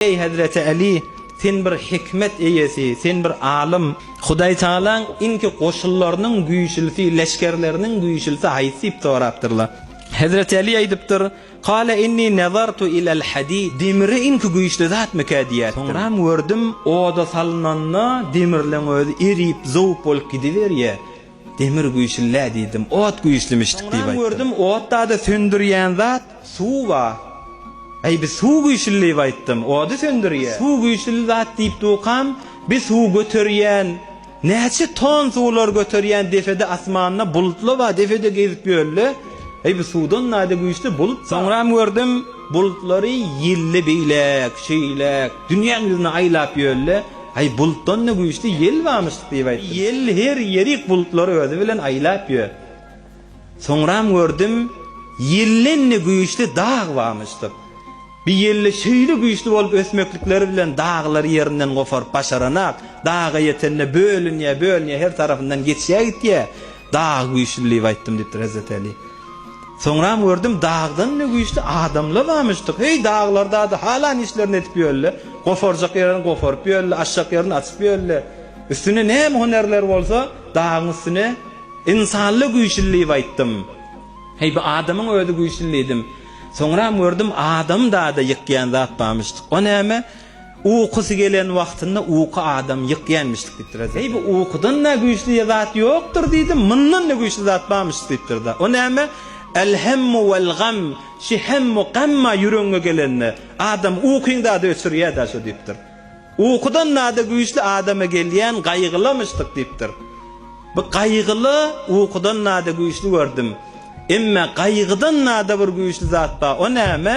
Eý, hezreti Aly, sen bir hikmet eýesi, sen bir alym. Hudaý Tagalaň inki goşunlarynyň güýçlüsi, leşgerleriniň güýçlüsi haýsy diýip sorapdyrlar. Hezreti Aly aýdypdyr, Kale inni nazartu ilel hadid, Demiri inki güýçli zatmyka diýýäpdir. Soňram gördüm, oda salynanda demirleň özi erip, zowup bolup gidiberýär. Demir güýçli-le diýdim, ot güýçlümişdik diýip aýtdym. Soňam gördüm, otda-da söndürýän zat suw-a. Äý, biz suw güýçli diýip aýtdym, ody söndürýär. Suw güýçli zat diýip dukam, biz suw göterýän, näçe ton suwlar göterýän depede asmanda bulutla-a depede gezip ýörle. Äý, bu suwdan naýda güýçli bulut-a. Soňram gördüm, bulutlary ýelli beýläk, şeýläk, dünýäň ýüzüni aýlap ýörle. Aý, bulutdan-da güýçli ýel barmyş diýip aýtdym. Ýel her ýerik bulutlary özi bilen aýlap ýör. Soňram gördüm, ýelden-de güýçli dag barmyşdyr. Bi ýelde şeýle güýçli bolup ösmeklikleri bilen daglary ýerinden goparyp başaranak, daga ýetende bölünýär, bölünýär, her tarapyndan geçýär-gitýär. Dag güýçli diýip aýtdym diýipdir Hezreti Äli. Soňram gördüm, dagdan-da güýçli adamla barmyşdyk. Heý, daglarda-da halan işlerini edip ýörle. Goparjak ýerini goparyp ýörle, açjak ýerini açyp ýörle. Üstünde näme hünärleri bolsa, dagyň üstüne ynsanla güýçli diýip aýtdym. Heý, bu adamyň özi güýçli diýdim. Soňram gördüm, adam-da-da ýykýan zat barmyşdyk. O näme? Ukusy gelen wagtynda uky adam ýykýänmişdik diýipdir-de. Eý, bu ukudan-da güýçli zat ýokdur diýdim, mundan-da güýçli zat barmyş diýipdir-de. O näme? Al-hemmu wal-gam, şi hemmu gamma ýüregiňe gelende, adam ukyňda-da öçürýä-da şo diýipdir. Ukudan-da güýçli adama gelýän gaýgylamyşdyk diýipdir. Bu gaýgyly ukudan-da güýçli gördüm. Emma gaýgydan-da bir güýçli zat bar, o näme?